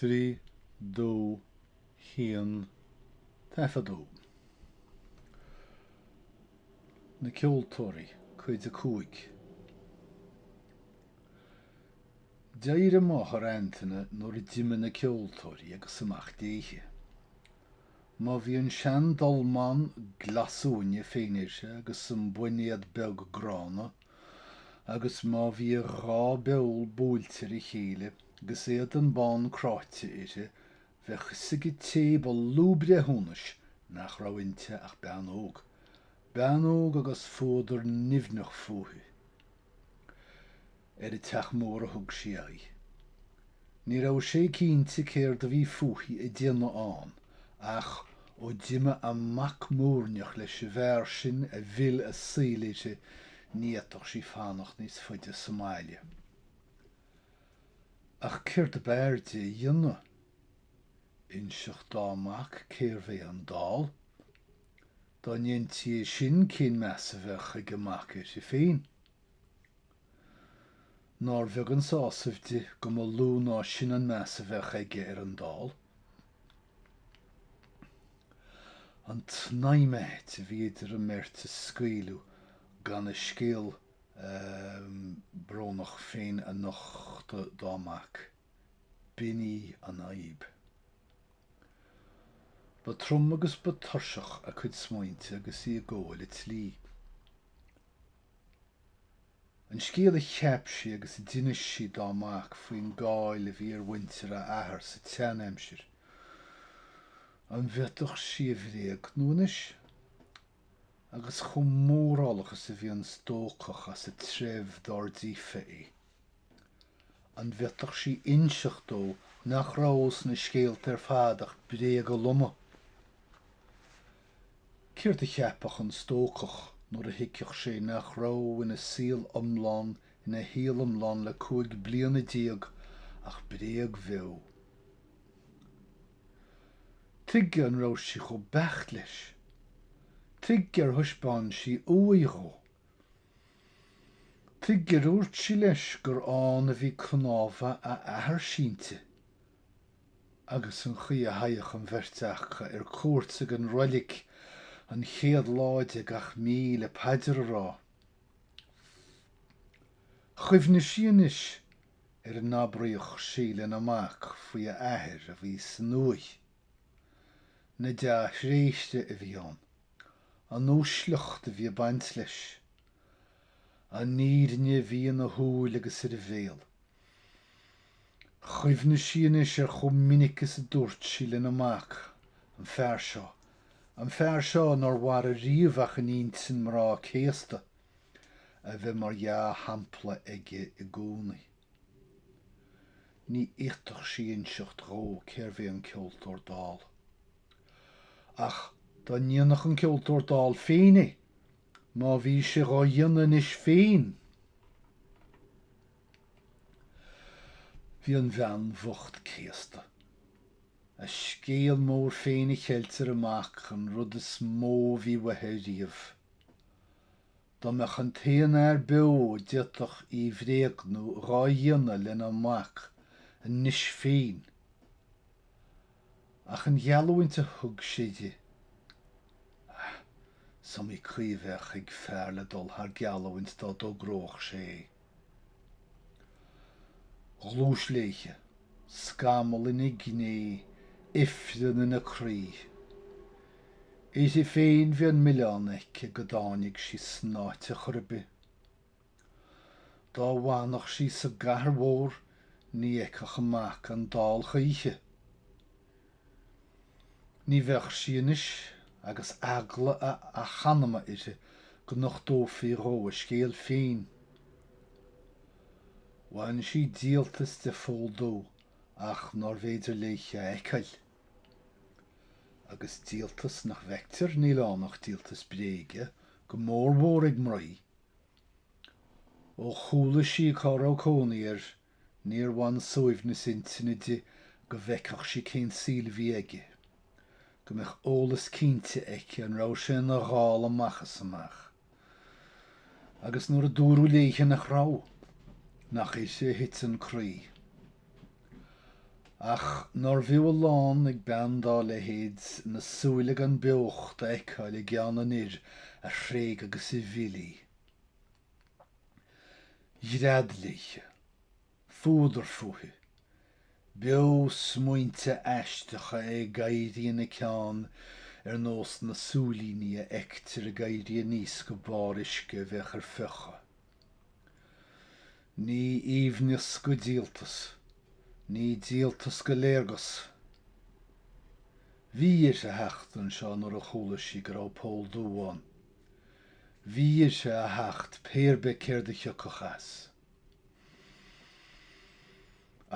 3 2 1 taifeadadh Na Ceoltóirí, cuid 5. D'éirigh máthair Antaine nuair a d'imigh na ceoltóirí agus amach léithe. Má bhí an sean dolmán glasuaine féin uirthi agus an boinéad beag gránna, agus má bhí a dhá beol buailte ar a chéile agus éadan bán cráite uirthi bheadh fhios ag an té ba lú breithiúnais nach raibh inti ach bean óg. Bean óg agus fuadar nimhneach fúithi. Ar an Teach Mór a thug sí aghaidh. Ní raibh sé cinnte céard a bhí fúithi a déanamh ann, ach ó d'imigh a mac múirneach leis an bhfear sin a mhill a saol uirthi, ní fhéadfadh sí fanacht níos faide sa mbaile. Ach céard ab fhearr di a dhéanamh? Inseacht dá mac cérbh é an dall? Dá ndéantí é sin cén meas a bheadh ag a mac uirthi féin? Nár bheag an sásamh di go mba lú ná sin an meas a bheadh aige ar an dall. An tsnaidhm ait a bhí idir an mbeirt a scaoileadh gan a scéal brónach féin a nochtadh dá mac, b'in í an fhadhb. Ba trom agus ba tuirseach a cuid smaointe agus í ag gabháil an tslí. An scéal a cheap sí agus a d'inis sí dá mac faoin gcáil a bhí ar mhuintir a athar sa tseanaimsir, an bhféadfadh sí a bhréagnú anois? Agus chomh mórálach is a bhí an stócach as an treibh dár díofa é. An bhféadfadh sí inseacht dó nach raibh sna scéalta ar fad ach bréaga loma? Céard a cheapfadh an stócach nuair a thuigfeadh sé nach raibh ina saol iomlán, ina shaol iomlán le cúig bliana déag, ach bréag bheo? Tuige an raibh sí chomh beacht leis? Tuige ar thaispeáin sí uaigh dhó? Tuige ar dhúirt sí leis gur ann a bhí cnámha a athar sínte agus an chaoi a theigheadh an bheirt aca ar cuairt ag an roilig an chéad lá de gach mí le paidir a rá. Chuimhnigh sí anois ar a n-abraíodh sí lena mac faoi a athair a bhí san uaigh. Na dea-thréithre a bhí ann. An uaisleacht a bhí ag baint leis. An fhírinne a bhí ina shúil agus ar a bhéal. Chuimhnigh sí anois ar chomh minic is a dúirt sí lena mac, An fear seo. An fear seo nár mhair ariamh ach in intinn mná céasta. A bheith mar dhea-shampla aige i gcónaí. Ní fhéadfadh sí innseacht dhó cé'r bhé an ceoltóir dall. Ach dá ndéanfadh an ceoltóir dall féin é, má bhí sé dhá dhéanamh anois féin! Bhí an bhean bhocht céasta. A scéal mór féin a cheilt ar a mac, an rud is mó a bhí uaithe ariamh. Dá mbeadh an t-aon fhear beo d'fhéadfadh í bhréagnú dhá dhéanamh len a mac anois féin. Ach an gheallúint a thug sé di. Ah, is iomaí caoi a bheadh ag fear le dul thar geallúint dá dtogródh sé é. Ghluais léithe, scamall in a gné, ifreann in a croí. Uirthi féin bhí an milleán aici go dtáinig sí san áit ar chor ar bith. Dá bhfanfadh sí sa gcathair mhór ní fheicfeadh a mac an dall choíche. Ní bheadh sí anois agus eagla a h-anama uirthi go nochtófaí dhó a scéal féin. Bhain sí díoltas de Phól Dubh ach nárbh fhéidir léithe a fheiceáil. Agus díoltas nach bhfeictear níl ann ach díoltas bréige, go mór mhór ag mnaoi. Ó chuala sí cá raibh cónaí air, Níor bhain suaimhneas intinne di go bhfeicfeadh sí cén saol a bhí aige, go mbeadh eolas cinnte aici an raibh sé ina dhall amach is amach. Agus nuair a dúradh léithe nach raibh, nach aisti a thit an croí. Ach nárbh fhiú a lán ag bean dá leithéid na súile gan beocht a fheiceáil i gceann an fhir a thréig agus a mhill í. ghread léithe, fuadar fúithi. Beo-smaointe aisteacha ag éirí ina ceann ar nós na súilíní a fheictear ag éirí aníos go barr uisce a bheadh ar fiuchadh. Ní aoibhneas go díoltas, ní díoltas go léargas. Bhí uirthi theacht anseo nuair a chuala sí go raibh Pól Dubh ann. Bhí uirthi a theacht pé ar bith céard a thiocfadh as.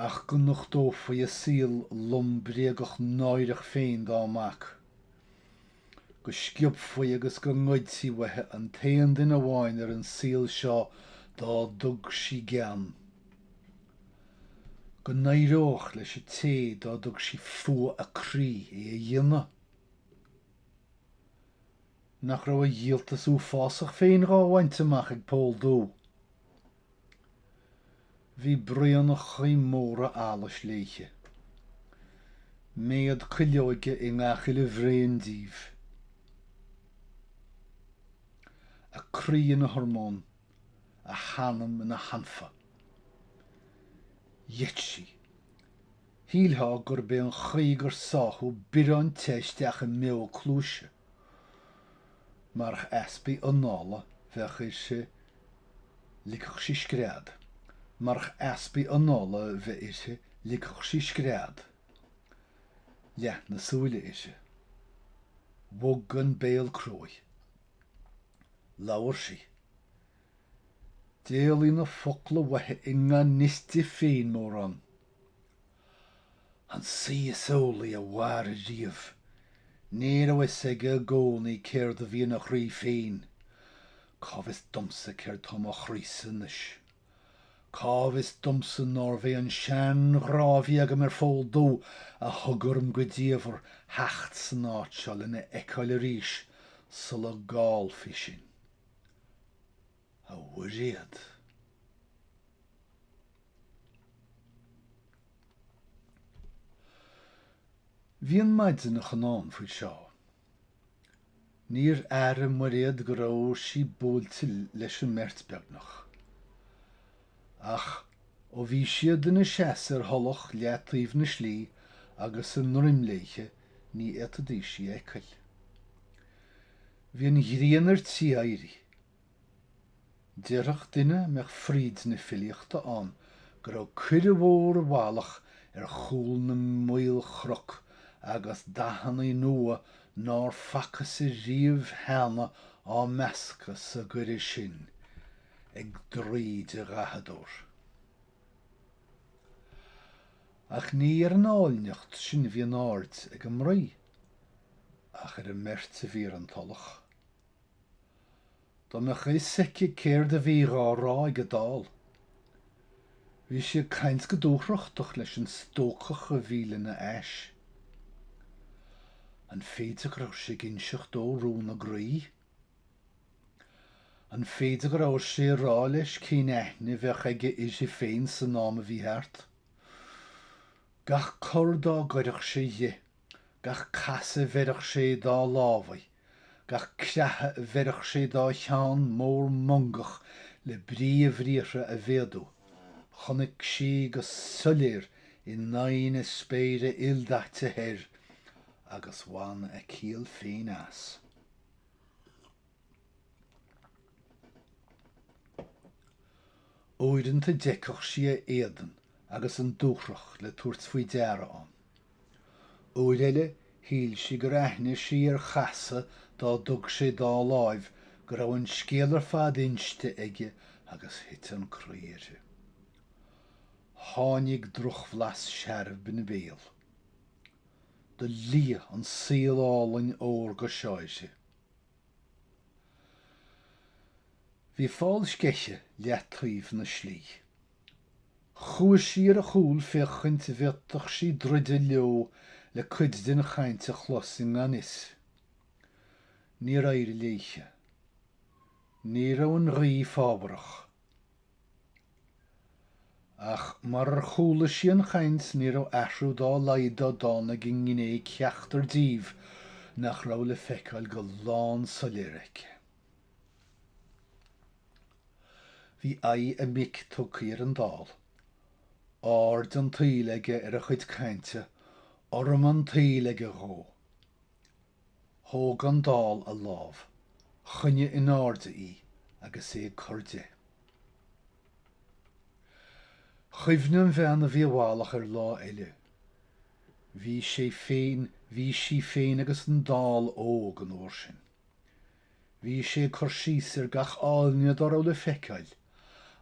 Ach go nochtófaí a saol lom bréagach náireach féin dá mac. Go sciobfaí agus go ngoidtí uaithi an t-aon duine amháin ar an saol seo dá dtug sí gean. Go n-éireodh leis an té dá dtug sí fuath a croí é a dhéanamh. Nach raibh a dhíoltas uafásach féin dhá bhaint amach ag Pól Dubh. Bhí braonachaí móra allais léithe. Méad cuilleoige i ngach uile bhraon díobh. A croí ina thormán, a hanam ina hanfa. Gheit sí. Shílfeá gurb é an chaoi gur sáthadh biorán te isteach i mbeo a cluaise. Marach easbaidh anála bheith uirthi ligfeadh sí scread, marach easbaidh anála bheith uirthi ligfeadh sí scread. Leath na súile uirthi. Bhog an béal cruaidh. Labhair sí. D'éalaigh na focla uaithi i ngan fhios di féin mórán. An saoi is eolaí a mhair riamh. Ní raibh fhios aige i gcónaí céard a bhí ina chroí féin. Cá bhfios domsa céard tá i mo chroísa anois. Cá bhfios domsa nárbh é an sean-ghrá a bhí agam ar Phól Dubh a thug orm go diamhair theacht san áit seo lena fheiceáil arís sula gcaillfí sinn. a Mhuiréad. Bhí an maidneachan ann faoi seo. Níor airigh Muiréad go raibh sí buailte leis an mbeirt beagnach. Ach ó bhí siad ina seasamh ar thulach leataobh na slí agus a ndroim léithe ní fhéadfaidís í a fheiceáil. Bhí an ghrian ar tí éirí. Déarfadh duine a mbeadh fríd na filíochta ann go raibh coire mhór i bhfalach ar chúl na maolchnoc agus dathannaí nua nár facthas ariamh cheana á meascadh sa gcoire sin ag draoi de dhathadóir. Ach ní ar an áilneacht sin a bhí an aird ag an mnaoi ach ar an mbeirt a bhí ar an tulach. Dá mbeadh fhios aici céard a bhí dhá rá ag an Dall. Bhí sé ag caint go dúthrachtach leis an stócach a bhí le na ais. An féidir go raibh sé ag inseacht dó rún a gcroí? An féidir go raibh sé ag rá leis cén aithne a bheadh aige uirthi féin san am a bhí thart? Gach cor dá gcuireadh sé dhe, Gach casadh a bheireadh sé dá lámhaí, gach creathadh a bheireadh sé dá cheann mór mongach le brí a bhriathra a mhéadú, chonaic sí go soiléir in aghaidh na spéire ildaite thoir agus bhain a ciall féin as. Uaireanta d'fheicfeadh sí a éadan agus an dúthracht le tabhairt faoi deara ann. Uair eile shíl sí gur aithnigh sí ar chasadh dá dtug sé dá láimh go raibh an scéal ar fad inste aige agus thit an croí uirthi. Tháinig drochbhlas searbh in a béal. Do liath an saol álainn órga seo uirthi. Bhí fál sceiche leath-taobh na slí. Chuaidh sí ar a chúl féachaint a bhféadfadh sí druideadh leo le cuid de'n chainnt a chlos i ngan fhios. Níor éirigh léithe. Ní raibh an ghaoth fábharach. Ach marar chuala sí an chainnt ní raibh athrú dá laghad dá dtáinig i ngné ceachtar díobh nach raibh le feiceáil go lán-soiléir aici. Bhí aghaidh a mic tugthaí ar an Dall. Aird an tsaoil aige ar a chuid cainte, urraim an tsaoil aige dhó. Thóg an Dall a lámh, choinnigh in airde í agus é ag cur de. Chuimhnigh an bhean a bhí i bhfalach ar lá eile. Bhí sé féin, bhí sí féin agus an Dall óg an uair sin. Bhí sé ag cur síos ar gach áilne dá raibh le feiceáil,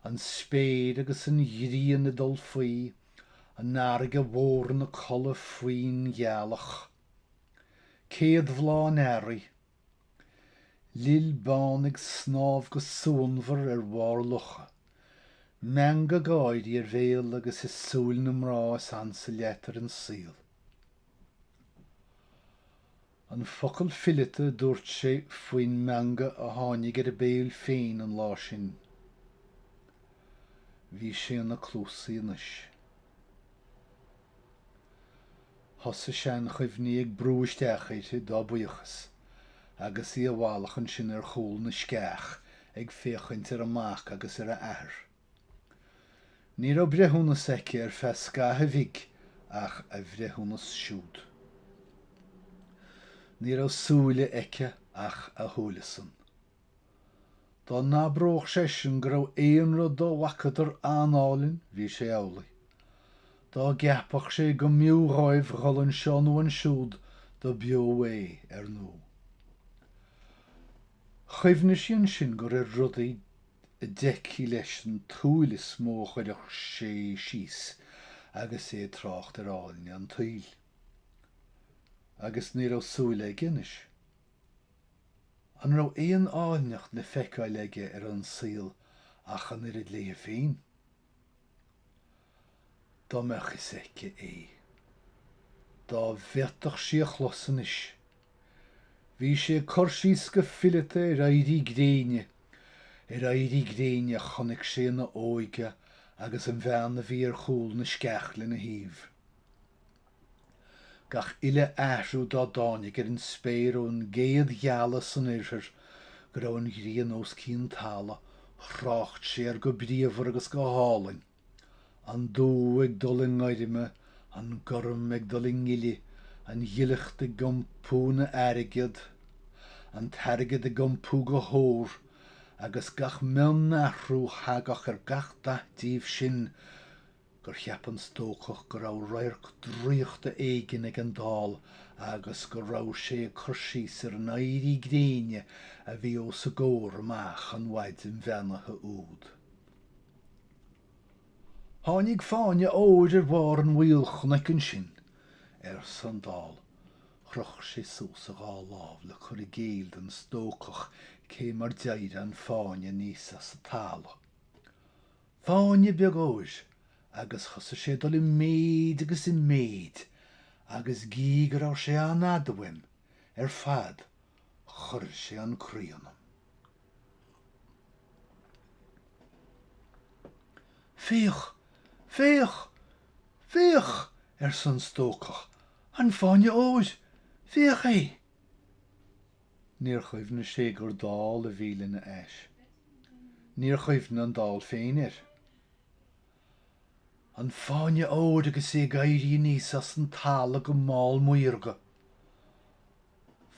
an spéir agus an ghrian ag dul faoi, an fharraige mhór ina codladh faoin ghealach. Céad bhláth an earraigh. Lil bán ag snámh go suanmhar ar bharr locha. Meangadh gáirí ar bhéal agus i súil na mná is ansa leat ar an saol. An focal fileata a dúirt sé faoin meangadh a tháinig ar a béal féin an lá sin. Bhí sé ina cluasaí anois. Thosaigh seanchuimhní ag brú isteach uirthi dá buíochas agus í i bhfolach ansin ar chúl na sceach ag féachaint ar a mac agus ar a athair. Ní raibh breithiúnas aici ar feadh scaithimh bhig ach a bhreithiúnas siúd. Ní raibh súile aici ach a shúile-san. Dá n-abródh seisean go raibh aon rud dá bhfacadar an-álainn bhí sé amhlaidh. Dá gceapfadh sé go mb'fhiú dhóibh a dhul anseo nó ansiúd do b'fhiú é, 'ar ndú'. Chuimhnigh sí ansin gur ar rudaí a d'fheicfí leis an tsúil is mó a chuirfeadh sé síos agus é ag trácht ar áilne an tsaoil. Agus ní raibh súil aige anois. An raibh aon áilneacht le feiceáil aige ar an saol ach an oiread léi féin? Dá mbeadh fhios aici é. Dá bhféadfadh sí a chlos anois. Bhí sé ag cur síos go fileata ar éirí gréine, ar éirí gréine a chonaic sé ina óige agus an bhean a bhí ar chúl na sceach lena thaobh. Gach uile athrú dá dtáinig ar an spéir ón gcéad ghealadh san oirthear go raibh an ghrian os cionn talaimh, thrácht sé air go bríomhar agus go hálainn. An dubh ag dul i ngoirme, an gorm ag dul i ngile, an ghileacht ag iompú ina airgead, an t-airgead ag iompú go hór, agus gach mion-athrú thagadh ar gach dath díobh sin gur cheap an stócach go raibh radharc draíochta éigin ag an dall agus go raibh sé ag cur síos ar an éirí gréine a bhí os a gcomhair amach an mhaidin bheannaithe úd. Tháinig fáinne óir ar bharr an mhaoil chnoic ansin, arsa an Dall. Chroch sé suas a dhá lámh le cur i gcéill don stócach cé mar d'éirigh an fáinne aníos as an talamh. Fáinne beag óir, agus thosaigh sé ag dul i méid agus i méid agus gí go raibh sé an-fhada uaim ar fad chuir sé an croí ionam. Féach! Féach! Féach! arsa an stócach, an fáinne óir! Féach é! Níor chuimhnigh sé gur dall a bhí lena ais. Níor chuimhnigh an dall féin air. An Fáinne Óir agus é ag éirí aníos as an talamh go mall maorga.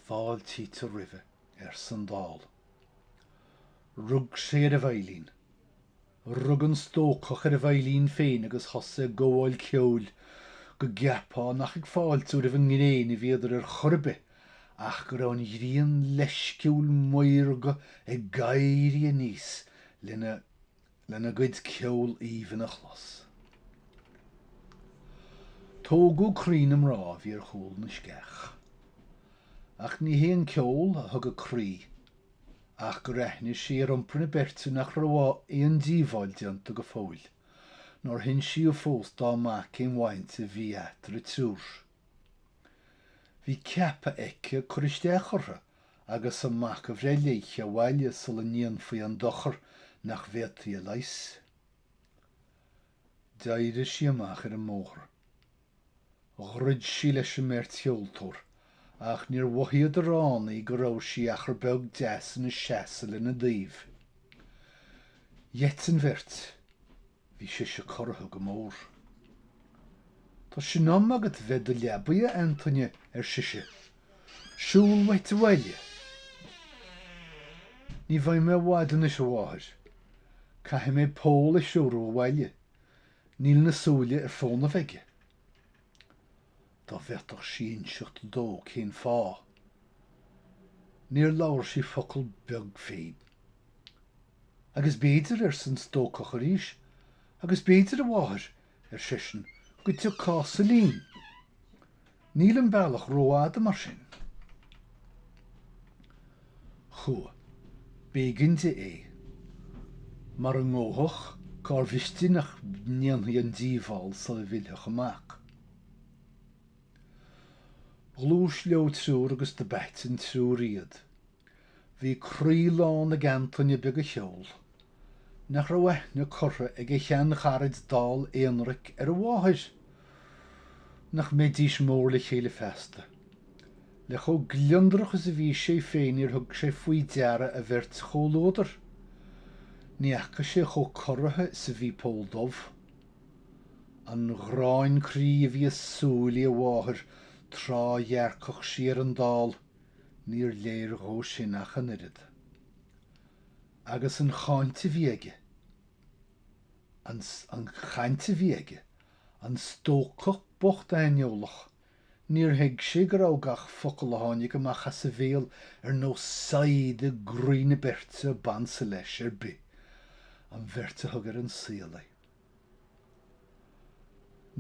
Fáiltítear roimhe, arsa an Dall. Rug sé ar a veidhlín. Rug an stócach ar a veidhlín féin agus thosaigh ag gabháil ceoil go gceapfá nach ag fáiltiú roimh an ngréin a bhíodar ar chor ar bith ach go raibh an ghrian leisciúil maorga ag éirí aníos lena lena gcuid ceoil aoibhinn a chlos. Tógadh croí na mná a bhí ar chúl na sceach. Ach ní hé an ceol a thóg a croí ach gur aithnigh sí ar iompar na beirte nach raibh aon díobháil déanta go fóill, nár hinsíodh fós dá mac cén bhaint a bhí eatarthu triúr. Bhí ceaptha aici cur isteach orthu. agus an mac a bhreith léithe abhaile sula ndéanfaí an dochar nach bhféadfaí a leigheas. D'éirigh sí amach ar an mbóthar. Dhruid sí leis an mbeirt cheoltóir, ach níor mhothaíodar ann í go raibh sí achar beag deas ina seasamh lena dtaobh. Gheit an bheirt. Bhí sise corraithe go mór. Tá sé in am agat bheith i do leabaidh a Antaine ar sise. Siúl uait abhaile. Ní bheidh mé i bhfad anois a mháthair. Caithfidh mé Pól a threorú abhaile. Níl na súile ar fónamh aige. Dá bhféadfadh sí inseacht dó cén fáth. Níor labhair sí focal beag féin. Agus b'fhéidir, arsa an stócach arís, agus b'fhéidir, a mháthair, ar seisean, go dtiocfása linn. Níl an bealach ró-fhada mar sin. Chuaigh. B'éigin di é. Mara ngabhfadh, cárbh fhios di nach ndéanfaí an díobháil sula bhfillfeadh a mac. Ghluais leo triúr agus dob ait an triúr iad. Bhí croí lán ag Antaine beag an cheoil. Nach raibh aithne curtha ag a shean-charaid dall aonraic ar a mháthair? Nach mbeidís mór le chéile feasta? Le chomh gliondrach is a bhí sé féin níor thug sé faoi deara a bheirt chomhluadar. Ní fhaca sé chomh corraithe is a bhí Pól Dubh. An ghráin croí a bhí i súilí a mháthair tráth a dhearcfadh sí ar an Dall, níor léir dhó sin ach an oiread. Agus an chaint a bhí aige, an chaint a bhí aige, an stócach bocht aineolach, níor thuig sé go raibh gach focal a tháinig amach as a bhéal ar nós saighid i gcroí na beirte a b'ansa leis ar bith, an bheirt a thug ar an saol é.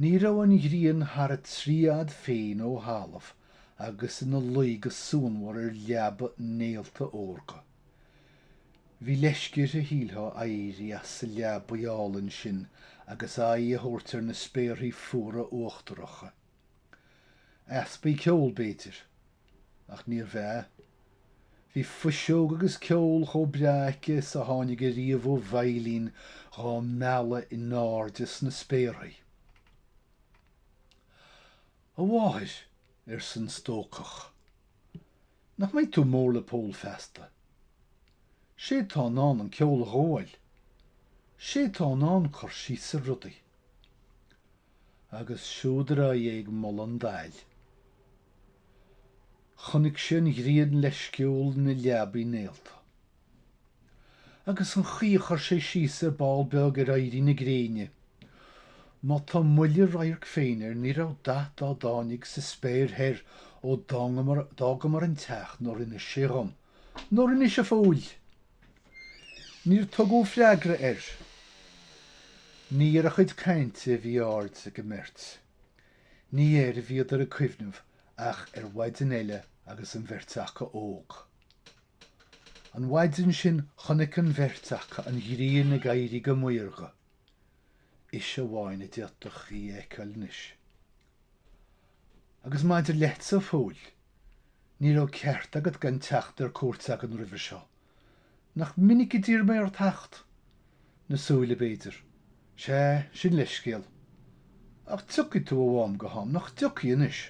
Ní raibh an ghrian thar a trí fhad féin ó thalamh agus in a luí go suanmhar ar leaba néalta órga. Bhí leisce uirthi, shíltheá, éirí as sa leabaidh álainn sin agus aghaidh a thabhairt ar na spéarthaí fuara uachtaracha. Easpa ceoil b'fhéidir. Ach níorbh ea. Bhí fuiseog agus ceol chomh breá aici is a tháinig ariamh ó veidhlín dhá mealladh i n-airde sna spéarthaí. A mháthair, arsa an stócach. Nach mbeidh tú mór le Pól feasta. 'Sé tá in ann an ceol a ghabháil. 'Sé tá in ann cur síos ar rudaí. agus siúd ar aghaidh é ag moladh an daill. Chonaic sé an ghrian leisciúl in a leabaidh néalta. Agus an chaoi a chuir sé síos ar ball beag ar éirí na gréine. Má tá moille radhairc féin air ní raibh dath dá dtáinig sa spéir thoir ó d'fhágamar an teach nár inis sé dhom, nár inis, a Phóil? Níor tugadh freagra air. Ní ar a chuid cainte a bhí aird ag an mbeirt. Ní air a bhíodar ag cuimhneamh ach ar mhaidin eile agus an bheirt acu óg. An mhaidin sin chonaic an bheirt acu an ghrian ag éirí go maorga. Ise amháin a d'fhéadfadh í a fheiceáil anois. Agus maidir leatsa, a Phóil, ní raibh ceart agat gan teacht ar cuairt againn roimhe seo. Nach minic a d'iarr mé ort theacht? Na súile, b'fhéidir. Sea, sin leithscéal. Ach tiocfaidh tú ó am go ham, nach dtiocfaidh anois?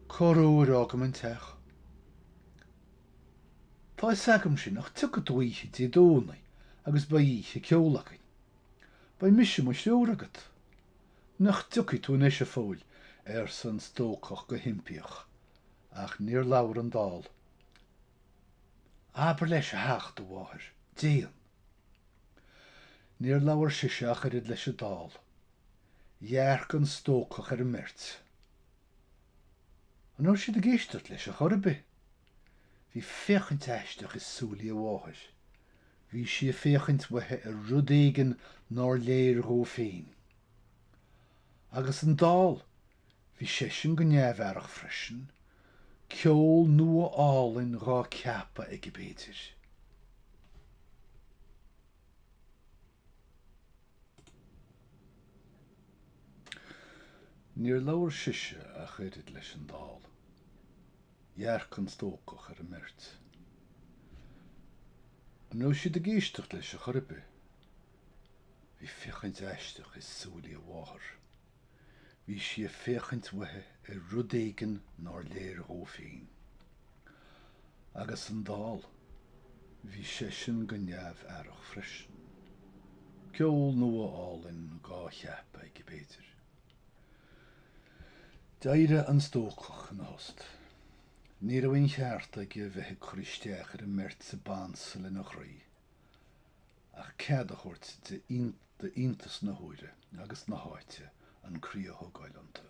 Corruair a fhágaim an teach. Tá fhios agam sin ach tiocfaidh tú oíche Dé Domhnaigh agus beidh oíche ceoil againn. Beidh mise mo stiúir agat. Nach dtiocfaidh tú anois, a Phóil? arsa an stócach go himpíoch. Ach níor labhair an dall. Abair leis a theacht, a mháthair. Déan. Níor labhair sise ach oiread leis an dall. Dhearc an stócach ar an mbeirt. An raibh siad ag éisteacht leis a chor ar bith? Bhí féachaint aisteach i súilí a mháthar. Bhí sí ag féachaint uaithi ar rud éigin nár léir dhó féin. Agus an dall, bhí seisean go neamh-aireach freisin, ceol nua álainn dhá ceapadh aige b'fhéidir. Níor labhair sise ach oiread leis an dall. Dhearc an stócach ar an mbeirt. An raibh siad ag éisteacht leis a chor ar bith? Bhí féachaint aisteach i súilí a mháthar. Bhí sí ag féachaint uaithi ar rud éigin nár léir dhó féin. Agus an dall. Bhí seisean go neamh-aireach freisin. Ceol nua álainn dhá cheapadh aige b'fhéidir. D'éirigh an stócach ina thost. Ní raibh aon cheart aige a bheith ag cur isteach ar an mbeirt seo ab ansa lena chroí. ach cead a thabhairt d'iontas na huaire agus na háite an croí a thógáil iontu.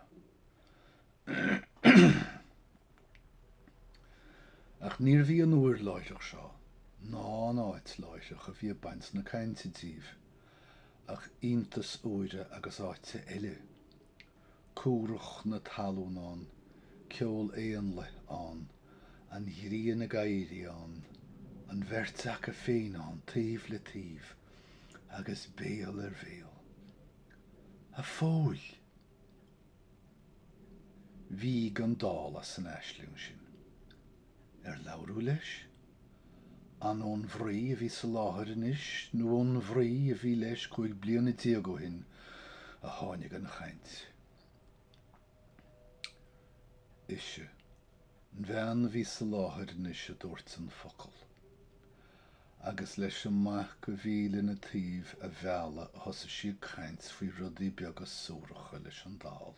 Ach níorbh í an uair láithreach seo ná an áit láithreach a bhí ag baint na cainte díobh ach iontas uaire agus áite eile. cumhracht na talún ann, ceol éanlaith ann, an ghrian ag éirí ann, an bheirt aca féin ann taobh le taobh agus béal ar bhéal. A Phóil! Bhíog an dall as an aisling sin. Ar labhradh leis? An ón mhnaoi a bhí sa láthair anois nó ón mhnaoi a bhí leis cúig bliana déag ó shin a tháinig an chaint? Ise, An bhean a bhí sa láthair anois a dúirt an focal. Agus leis an mac a bhí lena taobh a mhealladh a thosaigh sí ag caint faoi rudaí beaga suaracha leis an dall.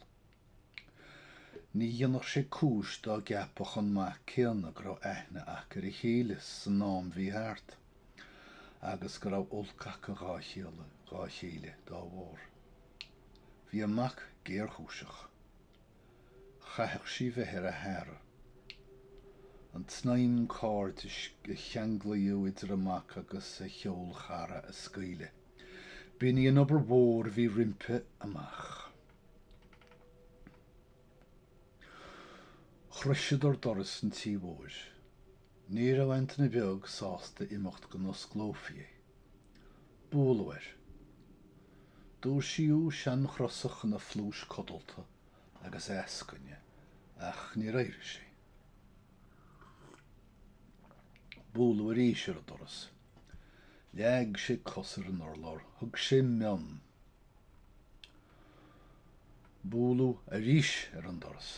Ní dhéanfadh sé cúis dá gceapfadh an mac céanna go raibh aithne aca ar a chéile san am bhí thart, agus go raibh olc aca dhá, dhá chéile, dá bharr. Bhí an mac géarchúiseach. Chaithfeadh sí bheith ar a h-aire. An tsnaidhm cairdis a cheanglaíodh idir a mac agus a cheol-chara a scaoileadh. B'in í an obair mhór a bhí roimpi amach. Shroiseadar doras an tí mhóir. Ní raibh Antaine Beag sásta imeacht go n-osclófaí é. Bualadh air. Dúisíodh seanchrosach ina phluais codalta agus é ag eascaine ach níor éirigh sé. Bualadh arís ar an doras. Leag sé cos ar an urlár. Thug sé mionn. Bualadh arís ar an doras.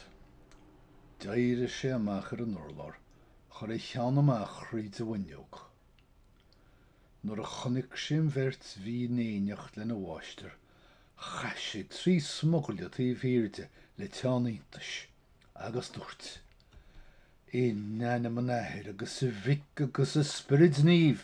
D'éirigh sé amach ar an urlár, chuir a cheann amach thríd an bhfuinneog. Nuair a chonaic sé an bheirt bhí in éineacht lena mháistir, chaith sé trí smugairle taobh thiar de le teann iontais, agus dúirt, In ainm an Athair agus a Mhic agus a Spioraid Naoimh!